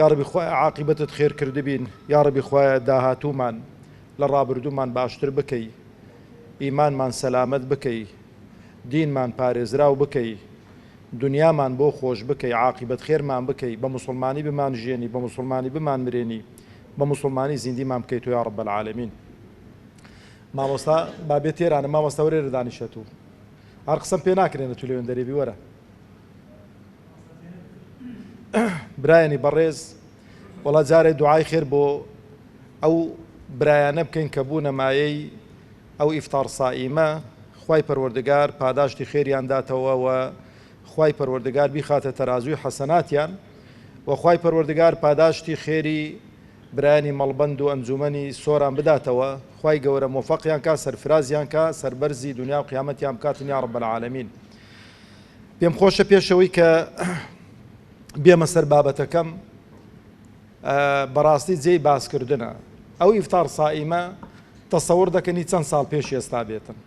یاڕەبی خوایە عاقیبەتت خێر کردبین یاڕەبی خوایە داهاتوومان لە ڕابردوومان باشتر بکەی ئیمانمان سەلامەت بکەی دینمان پارێزراو بکەی دنیامان بۆ خۆش بکەی عاقیبەت خێرمان بکەی بە موسڵمانی بمان ژیێنی بە موسڵمانی بمان مرێنی بە موسڵمانی زیندیمان بکەی تۆ یاڕەب العالمین مامۆستا بابێ تێرانە مامۆستا وەرێرە دانیشە تو هەر قسەم پێ ناکرێنە تو لەوێن دەرێبی وەرە برایانی بەڕێز وەڵا جارێ دوعای خێر بۆ ئەو برایانە بکەین کە بوونە مایەی ئەو ئیفتار سائیمە خوای پەروەردگار پاداشتی خێریان داتەوە و خوای پەروەردگار بیخاتە تەرازوی حەسەناتیان و خوای پەروەردگار پاداشتی خێری برایانی مەڵبەند و ئەنجومەنی سۆران بداتەوە خوای گەورە مۆفەقیان کا سەرفرازیان کا سەربەرزی دنیا و قیامەتیان بکاتن یا رب العالمین پێم خۆشە پێشەوەی کە بێمە سەر بابەتەکەم بەڕاستی جێی باسکردنە ئەو ئیفتار سائیمە تەسەور دەکەنی چەند ساڵ پێش ئێستا بێتن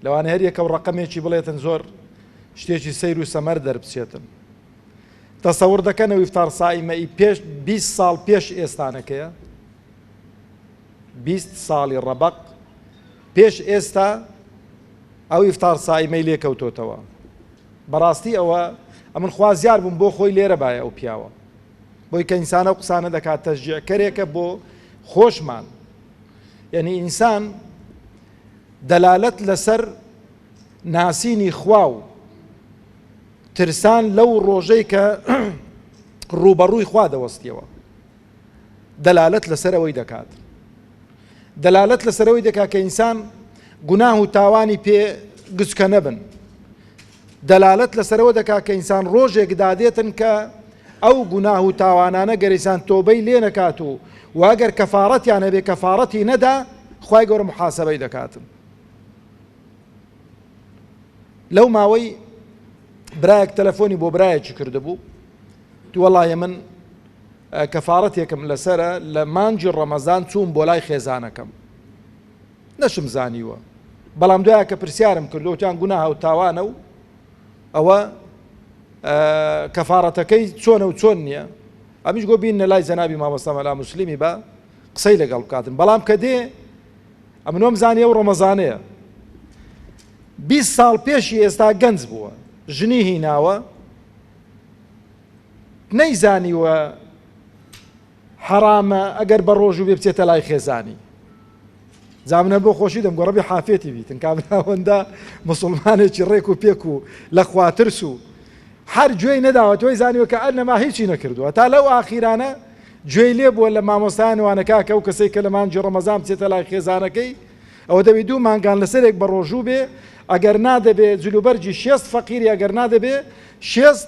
لەوانە هەر یەکە و ڕقمێکی بڵێتن زۆر شتێکی سیر و سەمەر دەربچێتن تەسەور دەکەنەوە ئیفتار سائیمەی پێش 20 ساڵ پێش ئێستانەکەیە بیست ساڵی ڕەبەق پێش ئێستا ئەو ئیفتار سائیمەی لێ کەوتۆتەوە بەڕاستی ئەوە ئەمن خوازیار بووم بۆ خۆی لێرە باە ئەو پیاوە بۆی کە ئینسانە و قسانە دەکات تەژجیعکەرێکە بۆ خۆشمان یعنی ئینسان دەلالەت لەسەر ناسینی خوا و ترسان لەو ڕۆژەی کە ڕوبەڕووی خوا دەوەستیەوە دەلالەت لەسەر ئەوەی دەکات دەلالەت لەسەر ئەوەی دەکات کە ئینسان گوناه و تاوانی پێ گچکە نەبن دەلالەت لەسەرەوە دەکات کە ئینسان ڕۆژێک دادێتن کە ئەو گوناه و تاوانانە گەریسان تۆبەی لێ نەکات و واگەر کەفاڕەتیان هەبێ کەفاڕەتی نەدا خی گەورە محاسبەی دەکاتن لەو ماوەی برایەک تەلەفۆنی بۆ برایەکی کردبوو دووەڵایە من کەفارەتێکم لەسەرە لە مانگی ڕەمەزان چووم بۆلای خێزانەکەم نەشم زانیوە بەڵام دوایە کە پرسیارم کرد وتیان گوناهە و تاوانە و ئەوە کەفارەتەکەی چۆنە و چۆن نییە ئەمیش گۆ بینە لای جەنابی مامۆستا مەلا مسلمی بە قسەی لەگەڵ بکاتن بەڵام کە دێ ئەمنۆم زانیە و ڕەمەزانەیە 20 ساڵ پێشی ئێستا گەنج بووە ژنی هیناوە نەیزانیوە حەرامە ئەگەر بە ڕۆژوو بێ بچێتە لای خێزانی جا منە بۆ خۆشی دەم گۆڕەبی حافێتی بیتن کابراوەندە مسلمانێکی ڕێک و پێک و لە خواترس و هەر گوێی نەداوە تۆی زانیوە کە ئەنەما هیچی نەکردووە تا لەو ئاخیرانە گوێی لێ بووە لە مامۆستایان وانەکاکە و کەسێک کە لە مانجی ڕەمەزان بچێتە لای خێزانەکەی ئەوە دەبی دوو مانگان لەسەرێک بە ڕۆژوو بێ ئەگەر نادەبێ جلوبەرجی شێست فەقیری ئەگەر نادەبێ شێست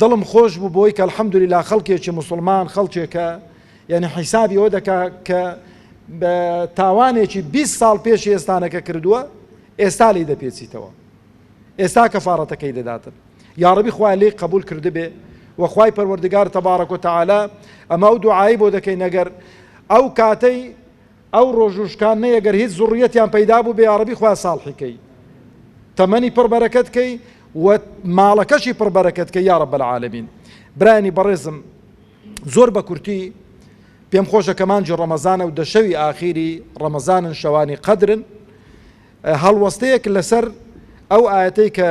دڵم خۆش بوو بۆی کە الحمدللە خەڵکێکی موسڵمان خەڵکێکە یەعنی حیسابی ئەوە دەکا کە بە تاوانێکی بیست ساڵ پێشی ئێستانەکە کردووە ئێستا لێی دەپێچیتەوە ئێستا کەفاڕەتەکەی دەداتن یاڕەبی خوای لێی قبول کردبێ وەخوای پەروەردگار تەبارەک و تەعالا ئەمە ئەو دوعایی بۆ دەکەین نەگەر ئەو کاتەی ئەو ڕۆژ و شکان نەیە گەر هیچ زوڕیەتیان پەیدا بوو بێ یاڕەبی خوایە ساڵحی کەی تەمەنی پڕ بەرەکەت کەی و ماڵەکەشی پڕ بەرەکەت کەی یا رب العالمین برانی بەڕێزم زۆر بە کورتی پێم خۆشە کە مانجی ڕەمەزانە و دەشەوی ئاخیری ڕەمەزانن شەوانی قەدرن هەڵوەستەیەک لەسەر ئەو ئاەتەی کە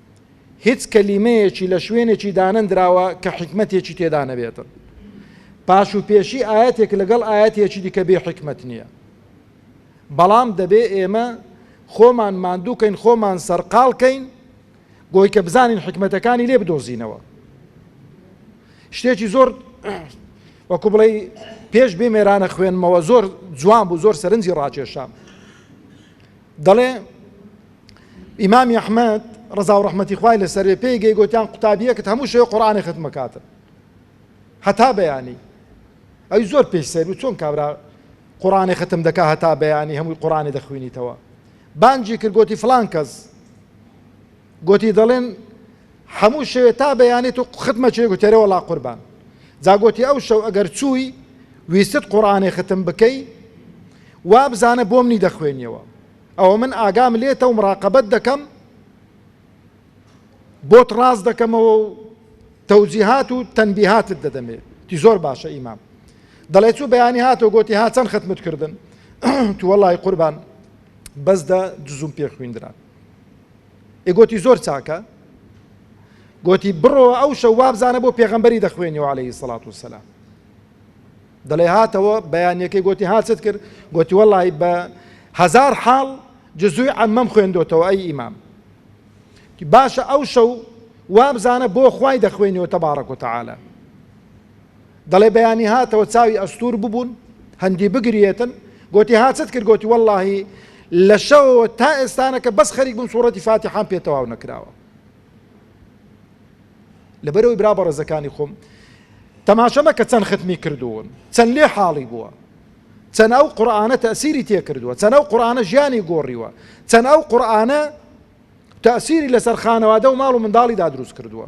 هیچ کەلیمەیەکی لە شوێنێکی دانەندراوە کە حیکمەتێکی تێدا نەبێتن پاش و پێشی ئاەتێک لەگەڵ ئاەتێکی دیکە بێ حیکمەت نییە بەڵام دەبێ ئێمە خۆمان ماندووکەین خۆمان سەرقالکەین بۆی کە بزانین حکمەتەکانی لێ بدۆزینەوە شتێکی زۆر وەکو بڵێ پێش بێ مێرانە خوێنمەوە زۆر جوان بوو زۆر سەرنجی ڕاکێشام دەڵێ، ئیمامی ئەحمەد ڕەزاو ڕەحمەتی خوای لەسەر بێ پێی گەی گۆتیان قوتابیەکت هەموو شێ قورآانی ختمەکاتن هەتا بەیانی ئەوی زۆر پێی سەر و چۆن کابرا قورآانی ختم دەکا هەتا بەیانی هەمووی قورآانی دەخوێنیتەوە بانجی کرد گۆتی فلان کەس گۆتی، دەڵێن حەموو شەوێ تا بەیانی تۆ ختمە چێ؟ گۆتی، ئەرێ وەڵا قوربان. جا گۆتی، ئەو شەو ئەگەر چووی ویستت قوڕانێ ختم بکەی وا بزانە بۆ منی دەخوێنیەوە، ئەوە من ئاگام لێتە و مڕاقەبەت دەکەم بۆت ڕاست دەکەمەوە و تەوجیهات و تەنبیهاتت دەدەمێ. گۆتی، زۆر باشە ئیمام. دەڵێ چوو بەیانی هاتەوە گۆتی، ها چەند ختمت کردن؟ گۆتی، وەڵای قوربان بەس دە جزووم پێ خویندرا. ئێ گۆتی زۆر چاکە گۆتی بڕۆوە ئەو شەو وابزانە بۆ پێغەمبەری دەخوێنیەوە عليهەیهی سەڵات و سەلام دەڵێ هاتەوە بەیانەکەی گۆتی هاچت کرد گۆتی وەڵی بە هزار حاڵ جزوی ئەمەم خوێندۆتەوە ئەی ئیمام باشە ئەو شەو وابزانە بۆ خوای دەخوێنیەوە تەبارەک و تەعاالە دەڵێ بەیانی هاتەوە چاوی ئەستوور ببوون هەندی بگریێتن گۆتی ها چت کرد گۆتی وەللهی لە شەوەوە تا ئێستانەکە بەس خەریک بووم سوورەتی فاتیحان پێ تەواو نەکراوە لەبەرەوەی برا بەڕێزەکانی خۆم تەماشەمە کە چەند ختمی کردوون چەند لێ حاڵی بووە چەند ئەو قورآانە تەسیری تێکردووە چەند ئەو قورآانە ژیانی گۆڕیوە چەند ئەو قورآانە تەسیری لەسەر خانەوادە و ماڵ و منداڵیدا دروست کردووە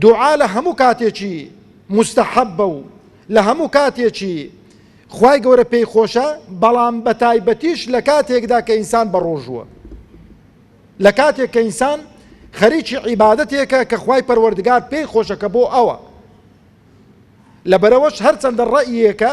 دوعا لە هەموو کاتێکی موستەحەبە و لە هەموو کاتێکی خوای گەورە پێی خۆشە بەڵام بە تایبەتیش لە کاتێکدا کە ئینسان بە ڕۆژووە لە کاتێک کە ئینسان خەریکی عیباەتێکە کە خوای پەروەردگار پێی خۆشەکە بۆ ئەوە لەبەرەوەش هەرچەندە ڕەیەکە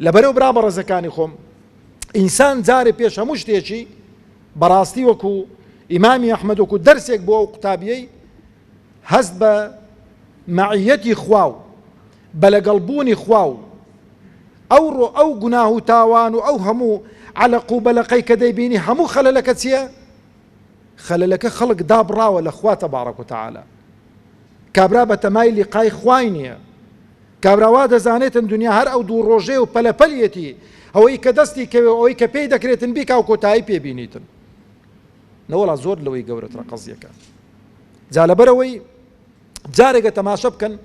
لەبەرئەو برا بەڕێزەکانی خۆم ئینسان جارێ پێش هەموو شتێکی بەڕاستی وەکو ئیمامی ئەحمد وەکو دەرسێک بۆ ئەو قوتابیەی هەست بە مەعیەتی خوا و بە لەگەڵبوونی خوا و ئەو ڕۆ ئەو گوناه و تاوان و ئەو هەموو عەلەق و بەلەقەی کە دەیبینی هەموو خەلەلەکە چییە؟ خەلەلەکە خەڵک دابڕاوە لە خوا تەبارەک و تەعالا کابرا بە تەمای لیقای خوای نییە کابرا وا دەزانێتن دنیا هەر ئەو دوو ڕۆژەیە و پەلە پەلیەتی، ئەوەی کە دەستی کەوێ و ئەوەی کە پێی دەکرێتن بیکا و کۆتایی پێ بینیتن. نەوەڵا زۆر لەوەی گەورەترە قەزیەکە. جا لەبەرەوەی جارێکە تەماشە بکەن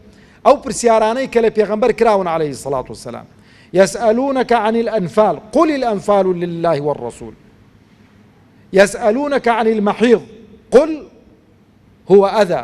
ئەو پرسیارانەی کە لە پێغەمبەر کراون عەلەیهی الصڵاة والسلام یسئلونەک عن الانفال قل الانفال لله والرسول یسئلونەک عن المحیض قل هو اذى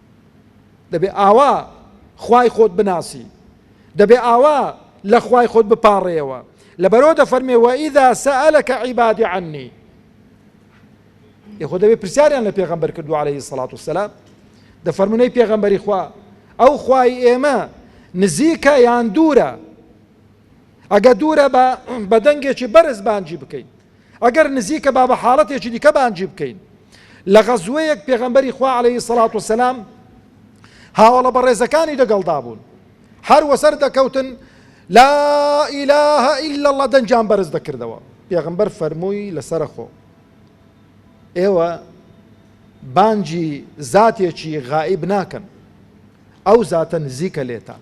دەبێ ئاوا خوای خۆت بناسی دەبێ ئاوا لە خوای خۆت بپاڕێەوە لەبەرەوە دەفەرمێ وەئیدا سەلەکە عیبادی عنی یخۆ دەبێ پرسیاریان لە پێغەمبەر کردو عليهەی سەڵات و سەلام دەفەرمونەی پێغەمبەری خوا ئەو خوای ئێمە نزیکە یان دوورە ئەگە دوورە بە بەدەنگێکی بەرز بانجی بکەین ئەگەر نزیکە با بە حاڵەتێکی دیکە بانگی بکەین، لە غەزوەیەک پێغەمبەری خوا عەلەیهی سەڵات و سەلام هاوەڵە بەڕێزەکانی دەگەڵدا بوون، هەر وەسەر دەکەوتن لا ئیلە ئیلە اللە دەنگیان بەرز دەکردەوە، پێغەمبەر فەرمووی لەسەرە خۆ ئێوە بانگی زاتێکی غائیب ناکەن، ئەو زاتە نزیکە لێتان.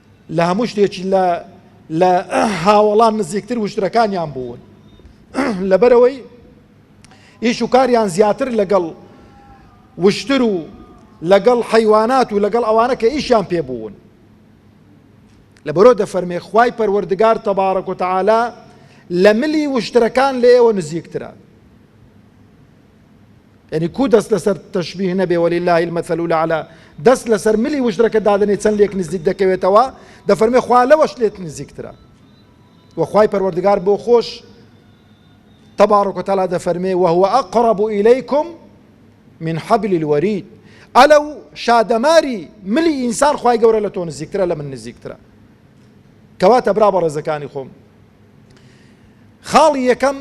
لە هەموو شتێکی لە لە هاوەڵان نزیکتر وشترەکانیان بوون لەبەرەوەی ئیش و کاریان زیاتر لەگەڵ وشتر و لەگەڵ حەیوانات و لەگەڵ ئەوانە کە ئیشیان پێ بوون لە بەرۆ دەفەرمێ خی پەروەردگار تەبارەک و تەعالا لە ملی وشترەکان لە ئێوە نزیکترە یەنی کوو دەست لەسەر تەشبیه نەبێ وللە المثل الاعلی دەست لەسەر ملی وشترەکە دادەنێ چەند لێک نزیک دەکەوێتەوە دەفەرمێ خوا لەوەش لێت نزیکترە وەخوای پەروەردگار بۆ خۆش تبارك وتعالى دەفەرمێ وهو أقرب إليكم من حبل الوريد ئەلە و شادەماری ملی ئینسان خی گەورە لە تۆ نزیکترە لە من نزیکترە کەواتە برا بە ڕێزەکانی خۆم خاڵی یەکەم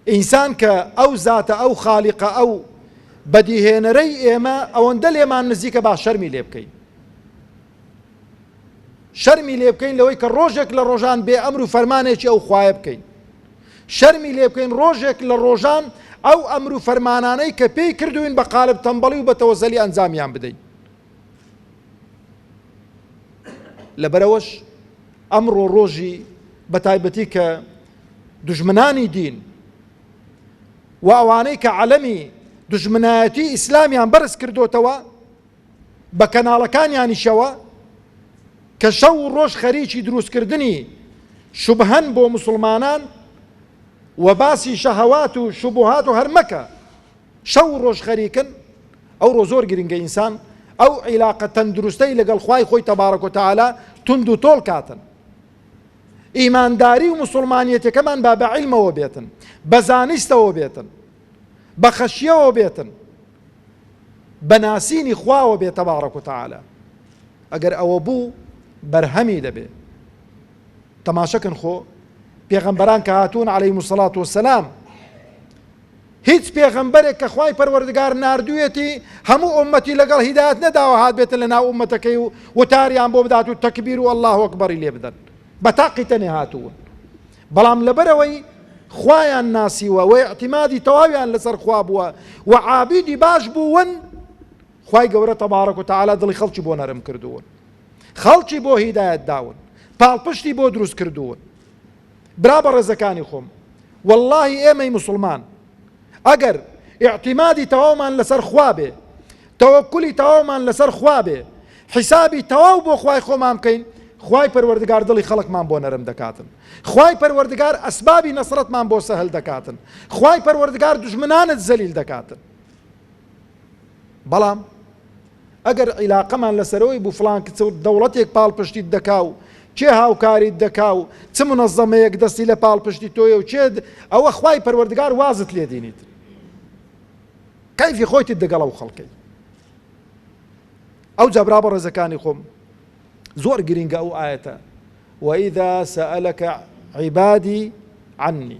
ئینسان کە ئەو زاتە ئەو خالیقە ئەو بەدیهێنەرەی ئێمە ئەوەندە لێمان نزیکە با شەرمی لێ بکەین شەرمی لێ بکەین لەوەی کە ڕۆژێک لە ڕۆژان بێ ئەمر و فەرمانێکی ئەو خوایە بکەین شەرمی لێ بکەین ڕۆژێک لە ڕۆژان ئەو ئەمر و فەرمانانەی کە پێی کردوین بە قالب تەمبەڵی و بە تەوەزەلی ئەنجامیان بدەین لەبەرەوەش ئەمڕۆ ڕۆژی بە تایبەتی کە دوژمنانی دین و ئەوانەی کە عەلەمی دوژمنایەتی ئیسلامیان بەرز کردوتەوە بە کەناڵەکانیانیشەوە کە شەو و ڕۆژ خەریکی دروستکردنی شوبهەن بۆ مسلمانان و باسی شەهەوات و شوبهات و هەرمەکە شەو و ڕۆژ خەریکن ئەو ڕۆ زۆر گرنگە ئینسان ئەو عیلاقە تەندروستەی لەگەڵ خوای خۆی تەبارەکۆتەعالا تونند و تۆڵ کاتن ئیمانداری و مسوڵمانیەتەکەمان با بە عیلمەوە بێتن بە زانستەوە بێتن بە خەشیەوە بێتن بە ناسینی خواوە بێت تەبارەک و تەعاالە ئەگەر ئەوە بوو بەرهەمی دەبێ تەماشەکن خۆ پێغەمبەران کە هاتوون عليهەی مسللات و سلام هیچ پێغەمبەرێک کە خوای پەروەردگار ناردوویەتی هەموو ئوممەتی لەگەڵ هیدایەت نەداوە هاتبێتە لە ناو ئوممەتەکەی و وتاریان بۆ بدات و تەکبیر و اللە اکبری لێ بدەن بە تاقی تەنێ هاتوون بەڵام لەبەرەوەی خوایان ناسیوە و اعتمادی تەواویان لەسەر خوا بووە و عابیدی باش بوون خوای گەورە تەبارەک و تعالی دڵی خەڵکی بۆ نەرم کردوون خەڵکی بۆ هیدایەت داون پاڵپشتی بۆ دروست کردوون برا بەڕێزەکانی خۆم واللهی ئێمەی مسوڵمان ئەگەر ئیعتیمادی تەواومان لەسەر خوا بێ تەوەکلی تەواومان لەسەر خوا بێ حیسابی تەواو بۆ خوای خۆمان بکەین خوای پەروەردگار دڵی خەڵکمان بۆ نەرم دەکاتن خوای پەروەردگار ئەسبابی نەسرەتمان بۆ سەهل دەکاتن خوای پەروەردگار دژمنانت زەلیل دەکاتن بەڵام ئەگەر عیلاقەمان لەسەرەوەی بوو فڵان کچ و دەوڵەتێک پاڵپشتیت دەکا و کێ هاوکاریت دەکا و چ منەزەمەیەک دەستی لە پاڵپشتی تۆیە و کێ ئەوە خوای پەروەردگار وازت لێ دینیت کەیفی خۆیتت دەگەڵە و خەڵکەی ئەو جابرا بە ڕێزەکانی خۆم زۆر گرنگە ئەو ئاەتە وەئیدا سەلەکە عیبادی عنی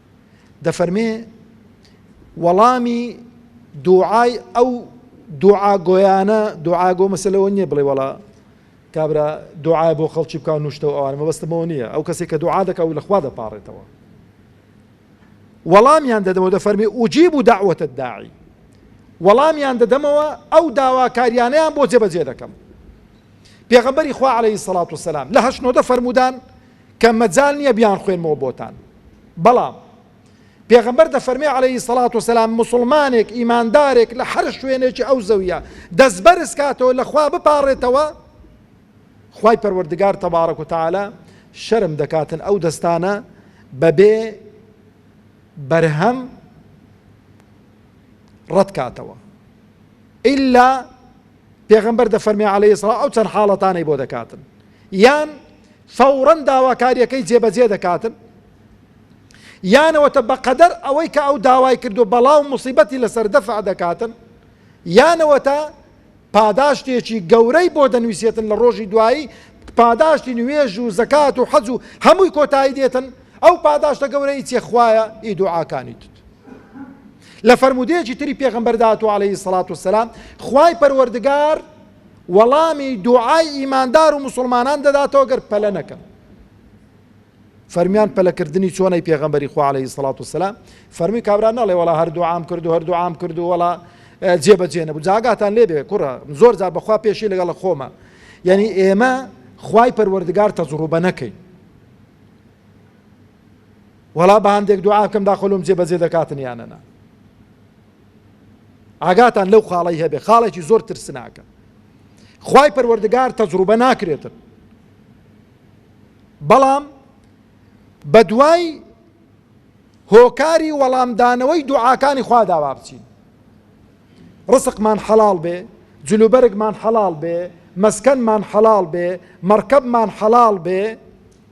دەفەرمێ، وەڵامی دووعای ئەو دووعا گۆیانە دووعا گۆ مەسە لەوە نییە بڵێ وەڵا کابرا دوعاە بۆ خەڵکی بکە نوشتەوە ئەوان مەبەستمەوە نییە ئەو کەسێک کە دوعا دەکە و لەخوا دەپارێتەوە وەڵامیان دەدەوە دە فەرمی ئوجیب و داوەتە داعی وەڵامیان دەدەمەوە ئەو داواکاریانیان بۆ جێبەجێ دەکەم پێغەمبەری خوا عليهەی سەڵات و سەسلام لە هەشنۆدە فەرمودان کە مەجال نیە بیانخوێنمەوە بۆتان بەڵام پێغەمبەر دەفەرمێ عەلەیهی سەڵات وسەلام موسڵمانێک ئیماندارێک لە هەر شوێنێکی ئەو زەویە دەست بەرز کاتەوە لە خوا بپاڕێتەوە خوای پەروەردگار تەبارەک و تعالی شەرم دەکاتن ئەو دەستانە بەبێ بەرهەم ڕەتکاتەوە ئللا پێغەمبەر دەفەرمێ عەلەیهی سڵاو ئەو چەند حاڵەتانەی بۆ دەکاتن یان فەوڕەن داواکاریەکەی جێبەجێ دەکاتن یانەوەتە بەقەدەر ئەوەی کە ئەو داوای کردو بەڵاو مصیبەتی لەسەر دەفع دەکاتن یانەوەتە پاداشتێکی گەورەی بۆ دەنووسێتن لە ڕۆژی دوایی پاداشتی نوێژ و زەکات و حەج و هەمووی کۆتایی دێتن ئەو پاداشتە گەورەی چێخوایە ئی دوعاکانیت لە فەرموودەیەکی تری پێغەمبەردا هاتووە عەلەیهی سەڵات و سەلام خوای پەروەردگار وەڵامی دوعای ئیماندار و مسلمانان دەداتەوە گەر پەلە نەکەن فەرمیان پەلەکردنی چۆنەی پێغەمبەری خوا عەلەیهی سەڵات و سەلام فەرمی کابرا نەڵێ وەڵا هەر دوعام کرد و هەر دوعام کرد و وەڵا جێبەجێ نەبوو جاگاتان لێ بێ کوڕە زۆر جار بەخوا پێشی لەگەڵ خۆمە یعنی ئێمە خوای پەروەردگار تەجروبە نەکەین وەڵا بەهەندێک دوعا بکەم داخۆ لۆم جێ بەجێ دەکاتن یانە نا ئاگاتان لەو خاڵی هەبێ خاڵێکی زۆر ترسناکە خوای پەروەردگار تەجروبە ناکرێتن بەڵام بە دوای هۆکاری وەڵامدانەوەی دوعاکانی خوا داوا بچین ڕسقمان حەڵال بێ جلوبەرگمان حەڵال بێ مەسکەنمان حەڵال بێ مەرکەبمان حەڵال بێ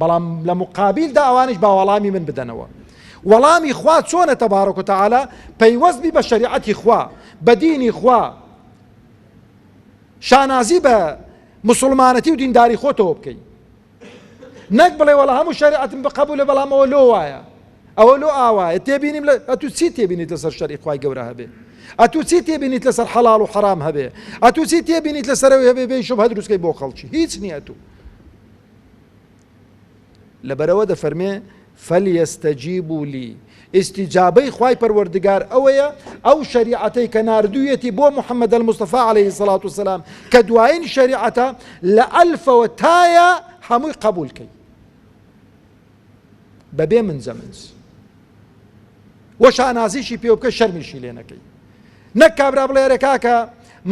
بەڵام لە مقابیلدا ئەوانیش با وەڵامی من بدەنەوە وەڵامی خوا چۆنە تەبارەک و تەعالا پەیوەست بی بە شەریعەتی خوا بە دینی خوا شانازی بە مسلمانەتی و دینداری خۆتەوە بکەی نەک بڵێ وەڵا هەموو شەریعەتم بقبولە بەڵام ئەوە لۆ وایە ئەوە لۆ ئاوایە تێبینیم لە ئەتو چی تێبینیت لەسەر شەری خی گەورە هەبێ ئەتو چی تێبینیت لەسەر حەڵال و حرام هەبێ ئەتو چی تێبینیت لەسەرەوە هەبێ بێ شوب هەدروستکەی بۆ خەڵکی هیچ نییە تو لەبەرئەوە دەفەرمێ، فلیستجیبوا لی، ئیستیجابەی خوای پەروەردگار ئەوەیە ئەو شەریعەتەی کە ناردوویەتی بۆ محمد المصطفی علیە الصلوة والسلام کە دوایین شەریعەتە لە ئەلفەوە تایا هەمووی قەبوول کەی. بەبێ منجە منج و شانازیشی پێ بکە شەرمیشی لێ نەکەی نەک کابرا بڵێ ئەرێ کاکە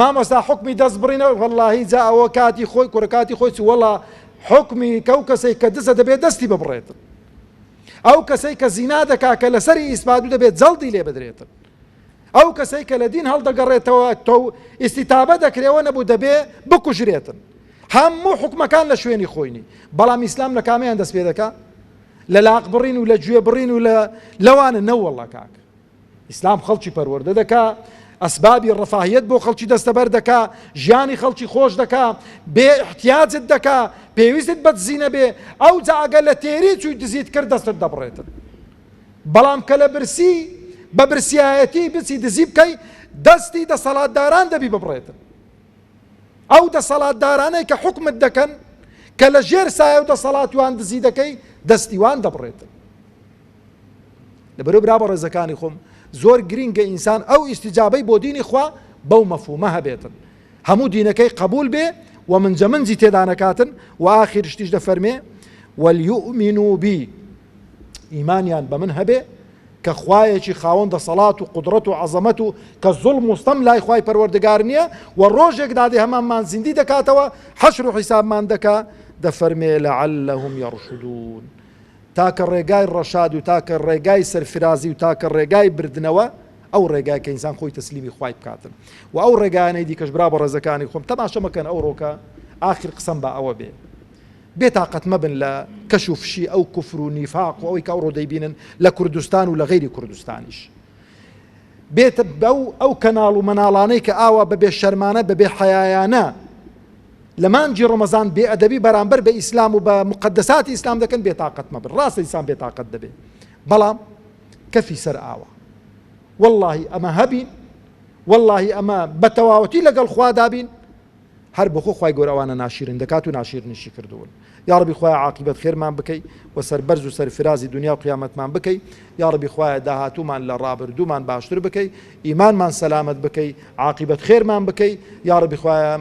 مامۆستا حکمی دەست بڕینە وەڵی جا ئەوە کاتی خۆی کوڕکاتی خۆی وەڵا حکمی کەو کەسێک کە دزە دەبێت دەستی ببڕێتن ئەو کەسەی کە زینا دەکا کە لەسەری ئیسپات و دەبێت جەڵدی لێ بدرێتن ئەو کەسەی کە لە دین هەڵدەگەڕێتەوە تۆو ئیستیتابە دەکرێ ئەوە نەبوو دەبێ بکوژرێتن هەموو حوکمەکان لە شوێنی خۆینی بەڵام ئیسلام لە کامیان دەست پێ دەکا لە لاق بڕین و لە گوێ بڕین و لە لەوانە نەوەڵە کاک ئیسلام خەڵکی پەروەردە دەکا ئەسبابی ڕفاهیت بۆ خەڵکی دەستەبەر دەکا ژیانی خەڵکی خۆش دەکا بێ احتیاجت دەکا پێویستت بە دزینە بێ ئەو جاگە لە تێری چووی دزیت کرد دەستت دەبڕێتن بەڵام کە لە برسی بە برسیایەتی بچی دزی بکەی دەستی دەسەڵاتداران دەبی ببڕێتن ئەو دەسەڵاتدارانەی کە حکومت دەکەن کە لە ژێر سایە و دەسەڵات وان دزی دەکەی دەستیوان دەبڕێتن لەبەرو برا بە ڕێزەکانی خۆم زۆر گرینگە ئینسان ئەو ئیسیجابەی بۆ دینی خوا بەو مەفومە هەبێتن هەموو دینەکەی قەبوول بێ و منجەمنجی تێدا نەکاتن و ئاخیر شتیش دەفەرمێ وەلیؤمین و بی ئیمانیان بە من هەبێ کە خوایەکی خاوەن دەسەڵات و قدرەت و عەزەمەت و کە زڵ مستەم لای خی پەروەردەگار نییە و ڕۆژێک دادێ هەمانمان زیندی دەکاتەوە حەشر و حیسابمان دەکا دەفەرمێ لە عەلەهم یڕشدون تاکە ڕێگای ڕەشاد و تاکە ڕێگای سەرفرازی و تاکە ڕێگای بردنەوە ئەو ڕێگای کە ئینسان خۆی تەسلیمی خوای بکاتن و ئەو ڕێگایانەی دیکەش برا بەڕێزەکانی خۆم تەماشە مەکەن ئەوڕۆکە ئاخر قسەم بە ئەوە بێ بێ تاقەت مەبن لە کەش و فشی ئەو کفر و نیفاق و ئەوەی کە ئەوڕۆ دەیبینن لە کوردستان و لە غیری کوردستانیش بێتە بەو ئەو کەناڵ و مەناڵانەی کە ئاوا بەبێ شەرمانە بەبێ حەیایانە لە مانجی ڕۆمەزان بێ ئەدەبی بەرامبەر بە ئیسلام و بە مقدساتی ئیسلام دەکەن بێتاقەت مەبن ڕاستە ئیسان بێتاقەت دەبێ بەڵام کەفی سەر ئاوە وەڵاهی ئەمە هەبین وەڵاهی ئەمە بە تەواوەتی لەگەڵ خوادا بین هەر بۆخۆ خی گۆرەوانە ناشیرن دەکات و ناشیرنیشی کردوون یاڕبی خخوای عقیبەت خێرمان بکەی و سەربەرز و سەرفرازی دنیا و قیامەتمان بکەی یاڕبی خخوایە داهاتومان لە ڕابردوومان باشتر بکەی ئیمانمان سەلامت بکەی عقیبەت خێرمان بکەی یاڕبی خخوایە